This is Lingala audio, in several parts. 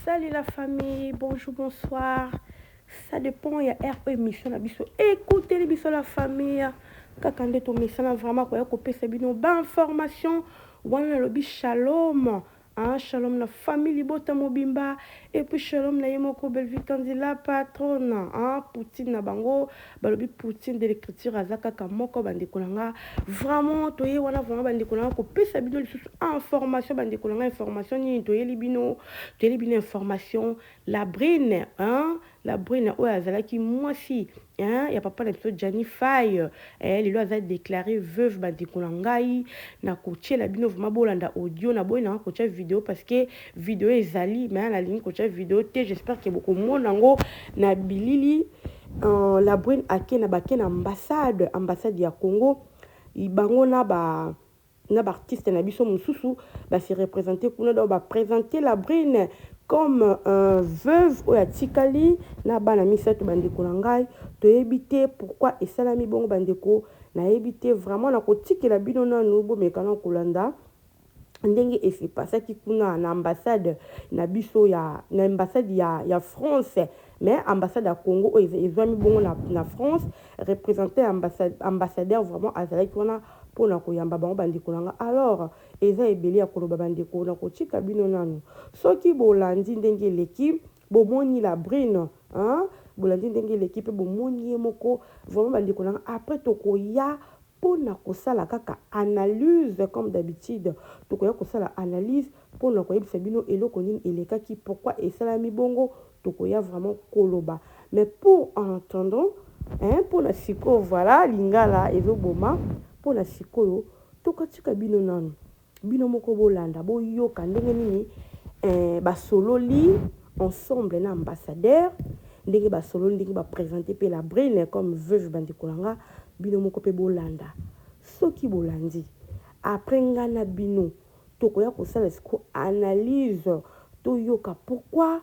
Salut la famille, bonjour, bonsoir. Ça dépend ya heure oyo émission na biso ekuteli biso la famille kaka nde tomesana vraiment koya kopesa bino bainformation wana nalobi shalom hein, shalom na famille libota mobimba et puis shalom na ye moko Bellevue Kanzila patronne hein, poutine na bango balobi poutine de l'écriture aza kaka moko bandeko na nga vraiment toye wana vraiment bandeko na nga kopesa bino lisusu information bandeko na nga information nini toyeli bino toyeli bino information la brine hein? la brine oyo azalaki mwasi hein? ya papa na biso jani faille eh, lelo aza déclaré veuve bandeko na ngai na kotyela bino vraiment bolanda audio na boyi nanga kotya video parce que video ezali mais nalingi kotya video te j'espère ke bokomona yango na bilili Euh la brune ake na bake na ambassade ambassade ya Congo bango na ba na ba artiste na biso mususu ba se representer kuna donc ba presenter la brune comme un veuve oyo atikali na bana misato bandeko na ngai toyebi te pourquoi esalami bongo bandeko nayebi te vraiment nakotikela bino nanu bomekana kolanda ndenge e se passaki kuna na ambassade na biso ya na ambassade ya ya France mais ambassade ya Congo oyo ezwami bongo na, na France représentant ya ambassade ambassadeur vraiment azalaki wana mpo na koyamba bango bandeko na nga alors eza ebele ya koloba bandeko na kotika bino nanu soki bolandi ndenge eleki Bomoni la brune hein bolandi ndenge eleki pe bomoni ye moko vraiment ba ndeko nanga après tokoya pona kosala kaka analyse comme d'habitude tokoya kosala analyse pona koyebisa bino eloko nini elekaki pourquoi esalami bongo tokoya vraiment koloba mais pour en attendant hein pona sikoyo voilà lingala ezo boma pona sikoyo tokotika bino nanu Bino moko bolanda boyoka ndenge nini eh, basololi ensemble na ambassadeur ndenge basololi ndenge ba presenter pe la brune comme veuve bandeko na nga bino moko pe bolanda soki bolandi après nga na bino tokoya kosala siko analyse toyoka pourquoi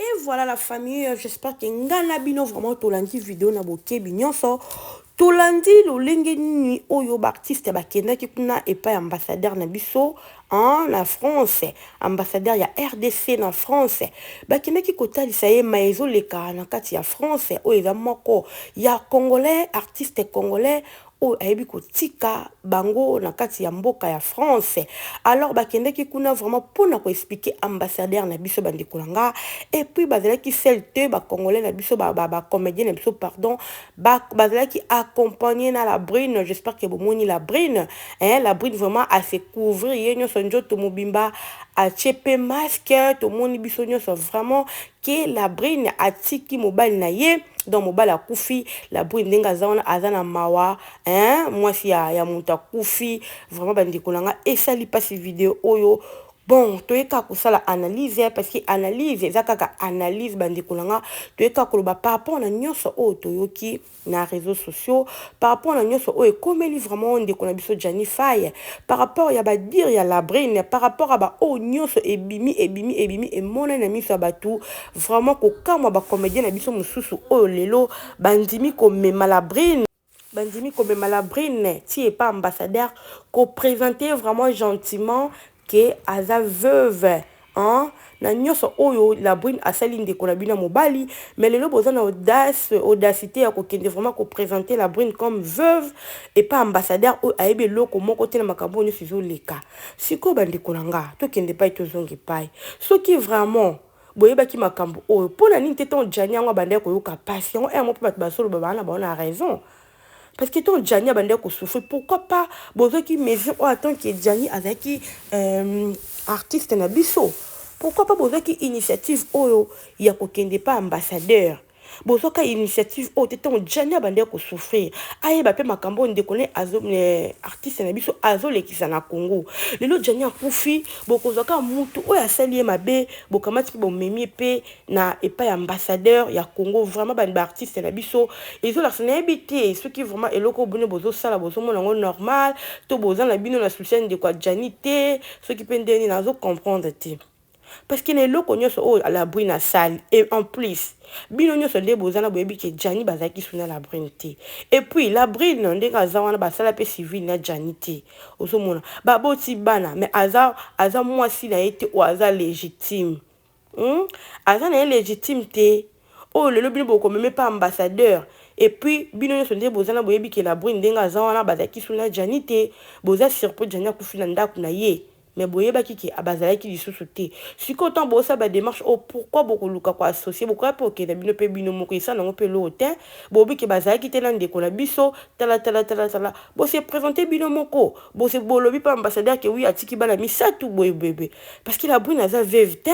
Et voilà la famille, euh, j'espère que nga na bino vraiment tolandi video na bokebi nyonso. Tolandi lolenge nini oyo baartiste bakendaki kuna epai ambassadeur na biso hein, na France, ambassadeur ya RDC na France, bakendaki kotalisa ye ma ezoleka na kati ya France oyo eza moko ya congolais, artiste congolais oyo ayebi kotika bango na kati ya mboka ya France alors bakendaki kuna vraiment pona ko expliquer ambassadeur na biso bandeko na nga et puis bazalaki seul te ba congolais na biso ba, ba, ba comedien na biso pardon ba, bazalaki accompagner na la brune j'espère que bomoni la brune hein la brune vraiment à se couvrir ye nyonso njoto mobimba atie pe masque tomoni biso nyonso vraiment ke la brune atiki mobali na ye donc mobali akufi la brune ndenge aza wana aza na mawa hein mwasi ya, ya moto akufi vraiment bandeko na nga esali mpasi video oyo bon toye kaka kosala analyse eh, parce que analyse eza kaka analyse bandeko na nga toye kaka koloba par rapport na nyonso oyo toyoki na reseaux sociaux par rapport na nionso oyo ekomeli vraiment ndeko na biso Gianni Faye par rapport ya ba dire ya Labrine par rapport ya ba oyo nionso ebimi ebimi ebimi emonani na miso ya batu vraiment kokamwa ba comedien na biso mosusu oyo lelo bandimi komema Labrine bandimi komema Labrine ti epa ambassadeur ko presenter vraiment gentiment que aza veuve hein na nioso oyo la brune asali ndeko na bino ya mobali mais lelo boza na audace audacite ya kokende vraiment ko presenter la brune comme veuve epa ambassadeur oyo ayebi eloko moko te na makambo nioso ezoleka sikoyo ba ndeko na nga tokende pai tozonga epai soki vraiment boyebaki makambo oyo pona nini te tango djani yango abandaki koyoka pasi yango heure moko pe bato bazoloba baa na bango na raison Parce que tant Gianni abandaki ko souffrir, pourquoi pas bozwaki mesure oyo en tant que Gianni azalaki euh, artiste na biso pourquoi pas bozwaki initiative oyo ya kokende pa ambassadeur bozwaka initiative oyo te ntango jani abandaki kosouffrir ayeba mpe makambo oyo ndeko ne azo eh, artiste na biso azolekisa na congo lelo jani akufi bokozwaka mutu oyo asali ye mabe bokamati mpe bomemi mpe na epai ya ambassadeur ya Congo vraiment ba ba artistes na biso ezolakisa nayebi te soki vraiment eloko bino bozosala bozomona yango normal to boza na bino na souci ya ndeko ya Djani te soki mpe ndenge nini nazo comprendre te parce que na eloko nyonso oyo Labrune asali et en plus bino nyonso nde boza na boyebi ke Djani bazalaki suna Labrune te et puis Labrune ndenge aza wana basala mpe civil na Djani te ozomona baboti bana mais aza aza mwasi na ye te oyo aza légitime Hum aza naye legitime te oyo lelo bino boko meme pa ambassadeur et puis bino nionso nde boza na boyebi ke la brune ndenge aza wana bazalaki sous na djani te boza sur po djani akufi na ndaku naye mais boyebaki ke abazalaki lisusu te sikoyo tango bozo sala ba demarche oyo pourquoi boko luka ko associe bokoya pe kokende na bino pe bino moko esala nango pe eloko tein bolobi ke bazalaki te na ndeko na biso tala tala tala tala bo se presenter bino moko bo se bolobi pa ambassadeur ke oui atiki bana misatu boye boye boye parce que la brune aza veuve te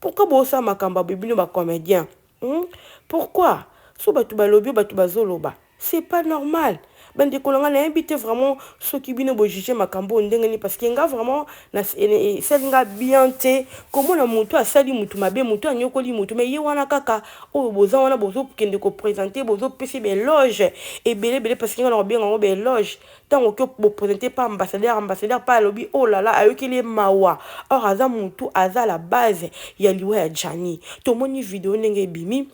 pourquoi bosala makambo ya bino ba comedien hmm? pourquoi so bato balobi yo bato bazoloba c'est pas normal bandeko na ngai nayebi te vraiment soki bino bojuge makambo oyo ndenge nini parce que nga vraiment esali nga bien te komona motu asali motu mabe motu anyokoli motu me ye wana kaka oyo boza wana bozokende kopresente bozopesa beloge ebele ebele parce que nga na kobenga yango beloge ntango oki bopresente pa ambassadeur ambassadeur pa alobi oh lala ayokeli ye mawa or aza mutu aza la base ya liwa ya jani tomoni video ndenge ebimi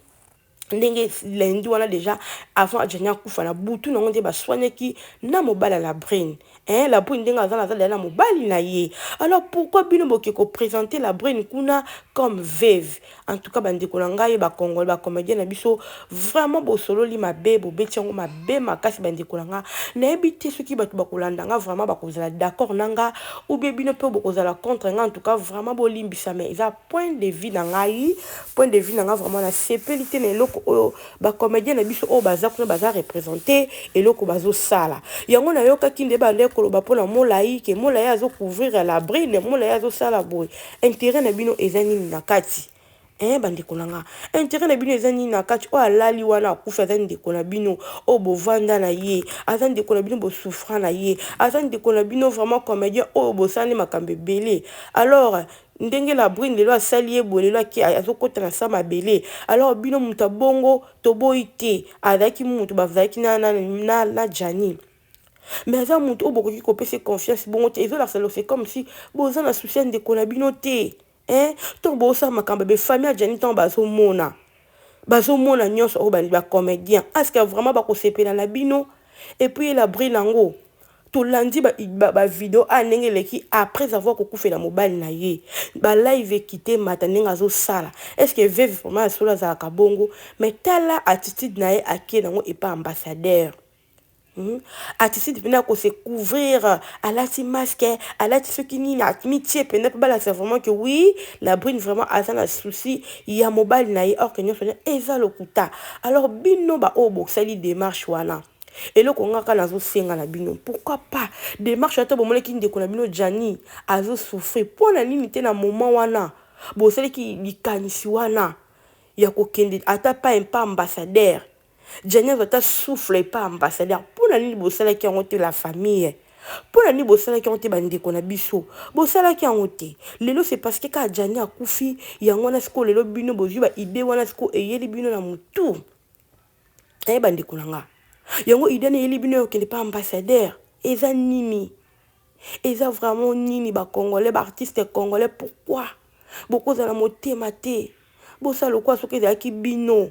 ndenge lundi wana deja avant ajani akufa na butu nango nde baswanaki na mobali ya labrine eh, labrine ndenge aza naza deja na mobali na ye alors pourquoi bino boke kopresente labrine kuna comme veve En tout cas ba ndeko na ngai ba congolais ba comedien na biso vraiment bosololi mabe bobeti yango mabe makasi ba ndeko na nga nayebi te soki bato bakolanda nga vraiment bakozala d'accord na nga ou bien bino mpe bokozala contre nga en tout cas vraiment bolimbisa mais eza point de vue na ngai point de vue na nga vraiment nasepeli te na eloko oyo ba comedien na biso oyo baza kuna baza represente eloko bazosala yango nayokaki nde bande koloba mpo na molai ke molai azocouvrir ya labrine molai azosala boye interet na bino eza nini na kati eh bandeko na nga interet na bino eza nini na kati oyo alali wana akufi aza ndeko na bino oyo bovanda na ye aza ndeko na bino bosouffra na ye aza ndeko na bino vraiment comédien oyo bosani makambo ebele alors ndenge la brune lelo asali ye boye lelo azokota na sa mabele alors bino moto ya bongo toboyi te azalaki moto bazalaki na, na, na, na, na janine mais aza moto oyo bokoki kopesa confiance bongo te ezolakisa lose comme si boza na souci ya ndeko na bino te hein ntango bosala makambo be famille ya jani ntango bazomona bazomona nyonso oyo bandi bacomédien aske vraiment bakosepela na bino epuis ye labri nango tolandi bavideo ba, ba a ah, ndenge eleki après avoir kokufela mobali na ye balive ekite mata ndenge azosala estce veve vraiment ya solo azalaka bongo mais tala attitude na ye akie nango epa ambassadeur Hmm? Atisidi pena ko se couvrir, alati masque, alati soki nini, amitie pena pe balakisa vraiment que oui, la brune vraiment aza na souci ya mobali na ye, or que nyonso nyonso eza lokuta. Alors bino ba oyo bosali demarche wana, eloko nga kaka nazosenga na bino, pourquoi pas demarche wana to bomonaki ndeko na bino Gianni azo souffrir, mpo na nini te na moment wana bosalaki likanisi wana ya kokende ata pa un pas ambassadeur Djani azwa ata souffle epa ambassadeur pona nini bosalaki yango te la famille pona nini bosalaki yango te bandeko na biso bosalaki yango te lelo c'est parce que kaka Djani akufi yango wana siko lelo bino bozwi ba idee wana siko eyeli bino na mutu eh bandeko na nga yango idée na eyeli bino ya kokende pa ambassadeur eza nini eza vraiment nini ba congolais ba artiste congolais pourquoi bokozala motema te bosala lokola soki ezalaki bino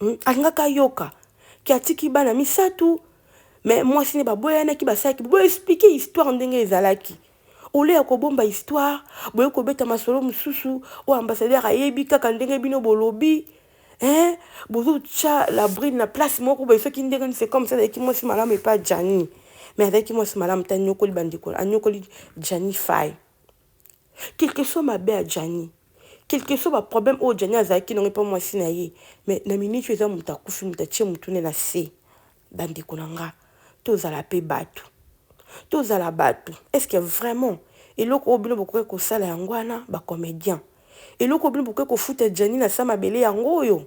Hmm, alingaka ayoka ke atiki bana misato me mwasi ne baboyanaki basalaki boexplike histoire ndenge ezalaki ole ya kobomba histoire boye kobeta masolo mosusu oyo ambassadeur ayebi kaka ndenge bino bolobi eh, bozotya la bride na place moko boye soki ndenge nise comme ça azalaki mwasi malamu epa jani me azalaki mwasi malamu te anyokoli bandeko anyokoli jani fai Quelque soit mabe ya Djani, quelque soit ba problème oyo Djani azalaki nango epa mwasi na ye, mais na minute oyo eza mutu akufi mutu atie mutu ne na se. Ba ndeko na nga tozala pe batu, tozala batu est ce que vraiment eloko oyo bino bokoki kosala yango wana ba comediens? Eloko oyo bino bokoki kofuta Djani na sa mabele yango oyo?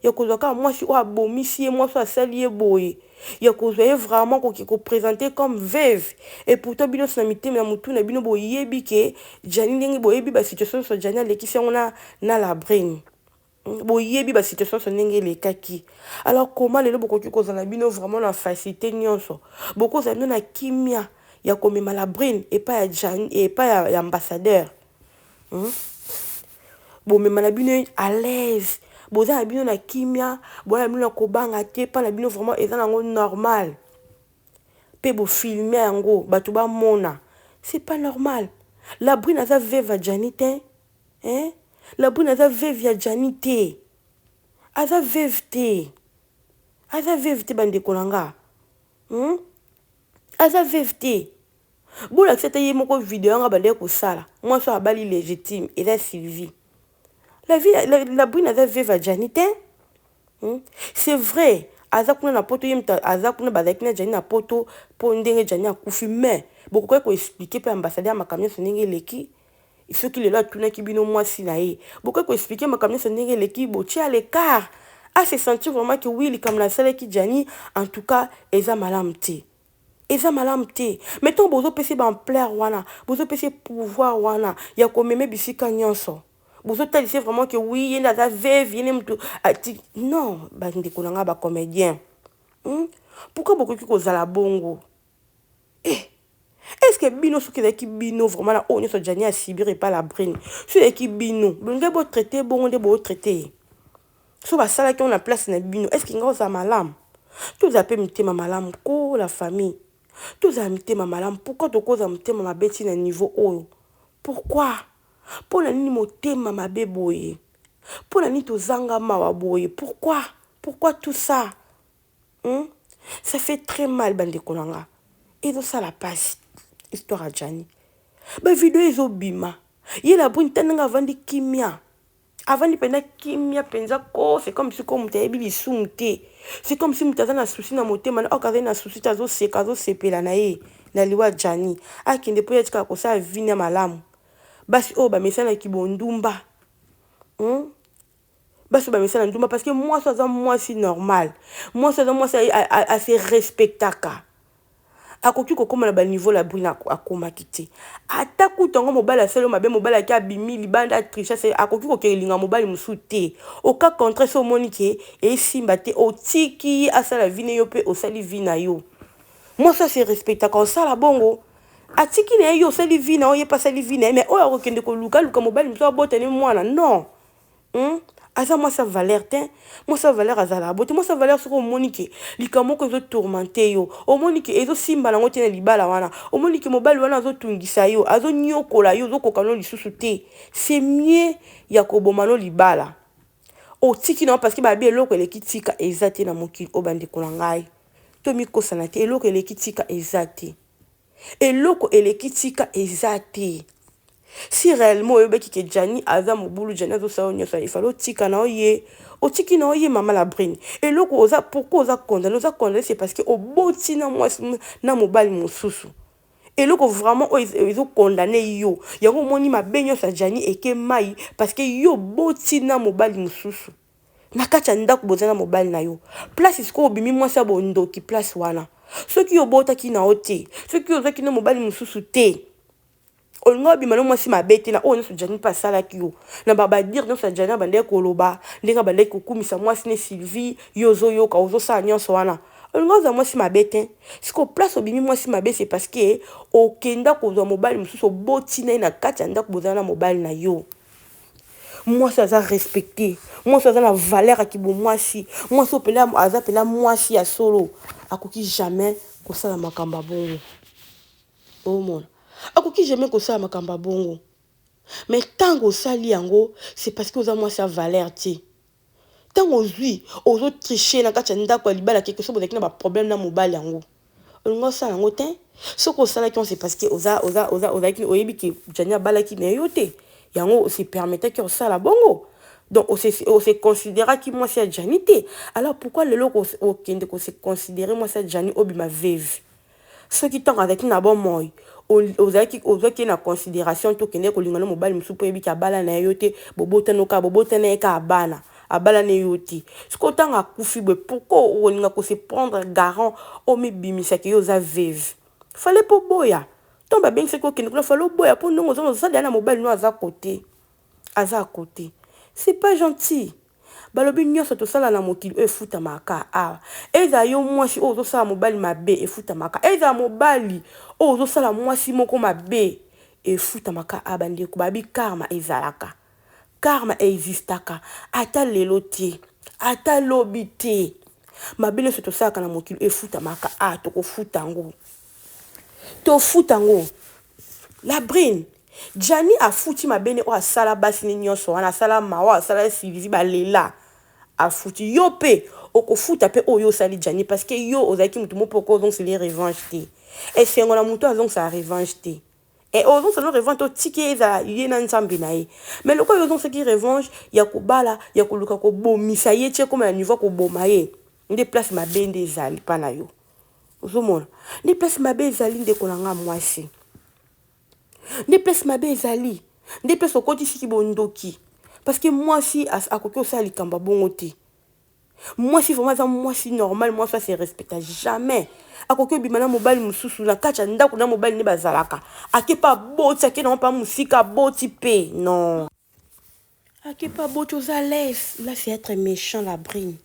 ya kozwa kaka mwasi oyo abomisi ye mwasi oyo asali ye boye ya kozwa ye vraiment koki ko presenter comme veuve et pourtant bino na mitema na mutu na bino boyebi ke Djani ndenge boyebi ba situation nyonso Djani alekisi yango na na la brune hmm, boyebi ba situation nyonso ndenge elekaki alors koma lelo bokoki kozala bino vraiment na facilité nyonso bokozala bino na kimia ya komema la brune epai ya Djani epai ya ambassadeur Hum? bomema na bino à l'aise boza na bino na kimia boya na bino na kobanga te mpa na bino vraiment eza nango normal mpe bofilme yango bato bamona c'est pas normal la brune aza veve ya jani te hein? la brune aza veve ya jani te aza veve te aza veve te bandeko na nga hmm? aza veve te Bolakisa ata ye moko video yanga bandaki kosala mwasi oyo abali legitime eza Sylvie la vie la, la brune aza veuve ya Gianni te hmm? c'est vrai aza kuna na poto ye moto aza kuna bazalaki na Gianni na poto mpo ndenge Gianni akufi mais bokokaki koexplike mpe ambasade ya makambo nyonso ndenge eleki soki lelo atunaki bino mwasi na ye bokokaki koexplike makambo nyonso ndenge eleki botia lekar a se sentir vraiment ke wi likambo nasalaki Gianni en tout cas eza malamu te Eza malamu te mais tango bozo pesa ye ba ampleur wana bozo pesa ye pouvoir wana ya ko meme bisika nionso bozo talisa ye vraiment que oui yende aza veuve yende mutu ati non ba ndeko na nga ba comedien hmm? pourquoi bokoki kozala bongo eh est ce que bino soki ezalaki bino vraiment na oyo nyonso jani asibiri epai la brine soki ezalaki bino bolingai botraite bongo nde bootraite ye Soki basalaki yango na place na bino est-ce que nga ozala malamu? Tozala pe mitema malamu koo la famille tozala mitema malamu pourquoi tokoza motema mabe ti na niveau oyo pourquoi? Pona nini motema mabe boye pona nini tozanga mawa boye pourquoi? Pourquoi tout ça hum ça fait très mal bandeko na nga ezosala pasi histoire ya Djani ba video ezobima ye la brune tala ndenge avandi kimia. avandi mpenza kimia mpenza ko c'est comme si ko moto ayebi lisumu te c'est comme si moto aza na souci na motema na oka azali na souci te azoseka azosepela na ye na liwa jani akende mpo ye atikala kosala vine ya malamu basi oyo bamesana kibondumba hmm? basi oyo bamesana ndumba parce que mwasi aza mwasi normal mwasi aza mwasi ase respectaka Akoki kokoma na ba niveau labrina akomaki te ata kutu yango mobali asali yo mabe mobali ake abimi libanda atriche asali akoki kokende linga mobali mosusu te au cas contraire so omoni ke esimba te otiki ye asala vie ne yo pe osali vie na yo mwasi oyo se respectaka osala bongo atiki na ye yo osali vie na yo ye pe asali vie na ye mais oyo akokende koluka aluka mobali mosusu abota ne mwana non Hum aza mwasi ya valeur te mwasi ya valeur azalaka bote mwasi ya valeur soki omoni ke likambo moko ezo tourmente yo omoni ke ezosimba nango te na libala wana omoni ke mobali wana azotungisa yo azoniokola yo ozokoka no lisusu te c'est mieux ya koboma no libala otiki nango parce que babi eloko eleki tika eza te na mokili oyo bandeko na ngai tomikosana te eloko eleki tika eza te Eloko eleki tika eza te. Si reellement oyebaki ke Djani aza mobulu Djani azo sala yo nioso wana il fallait otika na yo ye otiki na yo ye mama la brune eloko oza pourquoi oza condamne oza condamne c'est parce que oboti na mwasi na mobali mosusu eloko vraiment oyo ezo condamne yo yango omoni mabe nioso ya Djani eke mayi parce que yo oboti na mobali mosusu na kati ya ndako boza na mobali na yo place sikoyo obimi mwasi ya bondoki place wana soki obotaki na yo te soki ozwaki na mobali mosusu te olinga obima na mwasi mabe te na oyo nyonso jani mpe asalaki yo na babadire nyonso ya jani abandaki koloba ndenge abandaki kokumisa mwasi ne sylvie yo ozoyoka ozosala nyonso wana olinga ozwa mwasi mabe te sikoyo place obimi mwasi mabe se parceke okenda kozwa mobali mosusu oboti na ye na kati ya ndako bozala na mobali na yo Mwasi aza respecte, mwasi aza na valeur ya kibomwasi, mwasi oyo pela aza pela mwasi ya solo akoki jamais kosala makambo ya bongo. Omona, akoki jamais kosala makambo ya bongo. Mais ntango osali yango, c'est parce que oza mwasi ya valeur te. Tango ozui ozo tricher na kati ya ndaku ya libala quelque soki bozalaki na ba problème na mobali yango olingi osala yango tein soki osalaki yango c'est parce que oza oza oza ozalaki oyebi que Djani abalaki mais yo te yango se permetaki ya kosala bongo donc on se on se consideraki mwasi ya Djani te alors pourquoi lelo okende ko se considérer mwasi ya Djani obima veuve Soki ntango azalaki na bomoi ozalaki ozwaki ye na consideration to okendeki kolinga na mobali mosusu mpo oyebi ke abala na ye yo te bobotano kaka bobota na ye kaka bana abala na yo te sikoyo ntango akufi boye pourquoi okolinga kose prendre garant omibimisa ke yo oza veve fale mpo oboya ntango babengisaki okende kuna fale oboya mpo ndenge oza ozosala ya na mobali no aza kote Aza à cote. C'est pas gentil. Balobi nionso tosala na mokili oyo efutamaka kaka awa. Ezala yo muasi oyo ozosala mobali mabe efutamaka kaka. Ezala mobali oyo ozosala muasi moko mabe efutamaka kaka awa bandeko. Babi karma ezalaka. Karma existaka ata lelo te. Ata lobi te. Mabe nionso tosalaka na mokili oyo efutamaka kaka awa. Tokofuta yango. Tofuta ngo la brune. Djani afuti mabe ne oyo asala basi ne nionso wana asala mawa asala silizi ba lela afuti yo pe okofuta pe oyo osali Djani parce que yo ozalaki mutu mope oko ozongisa ye revanche te esengo na mutu azongisa revanche te et eh, ozongisa no revanche otiki ye ezala ye na nzambe na ye mais lokola yo ozongisaki revanche ya kobala ya koluka kobomisa ye ti ekoma na niveau ya koboma ye nde place mabe nde ezali pa na yo ozomona nde place mabe ezali ndeko na ngai mwasi nde place mabe ezali nde place okotisi kibondoki parceke mwasi akoki kosala likambo ya bongo te mwasi vraimen aza mwasi normal mwasi ase respecta jamais akoki obima na mobali mosusu na kati ya ndako na mobali nde bazalaka ake mpe aboti ake na mpe mosika aboti mpe non Akipa boti oza laisse là c'est etre mechant la brune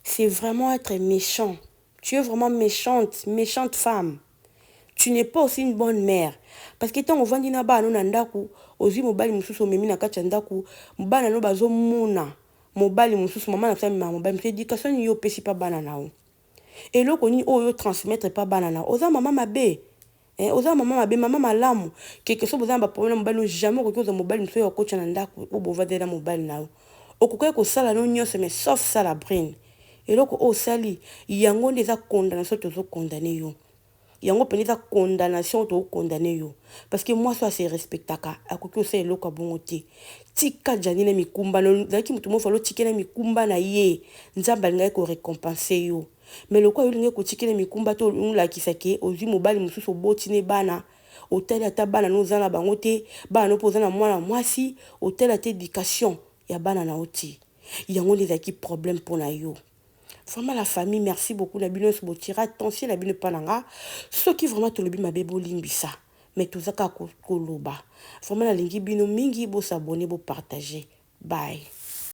c'est vraiment etre mechant tu es vraiment mechante mechante femme tu n'es pas aussi une bonne mère parce que tango ovandi na bana no na ndaku ozui mobali mosusu omemi na kati ya ndaku bana no bazo mona mobali mosusu mama na biso amemaka mobali mosusu education nini yo opesi pa bana na yo eloko nini oyo yo transmettre pa bana na yo oza mama mabe Eh oza na maman mabe maman malamu keke soki boza na ba problème na mobali no jamais okoki kozwa mobali mosusu oyo akotya na ndako po bovandela na mobali na yo okokaki kosala no nyonso mais sauf ça la brune eloko oyo osali yango nde eza condamnation tozo condamne yo yango mpenza eza condamnation oyo toko condamne yo parce que mwasi oyo ase respectaka akoki kosala eloko ya bongo te tika jani na mikumba na yo ozalaki moto moko falo otikela mikumba na ye nzambe alingaki korecompense yo Mais lokola yo olingi kotikela ye mikumba to olingi olakisa ke ozui mobali mosusu oboti ne bana otali ata bana no oza na bango te bana no pe oza na mwana mwasi otali ata education ya bana na yo te yango nde ezalaki problème pona yo Vraiment la famille merci beaucoup na bino nionso botiera tension na bino epa na nga soki vraiment tolobi mabe bolimbisa mais toza kaka koloba vraiment nalingi bino mingi bo s'abonner bo partager bye.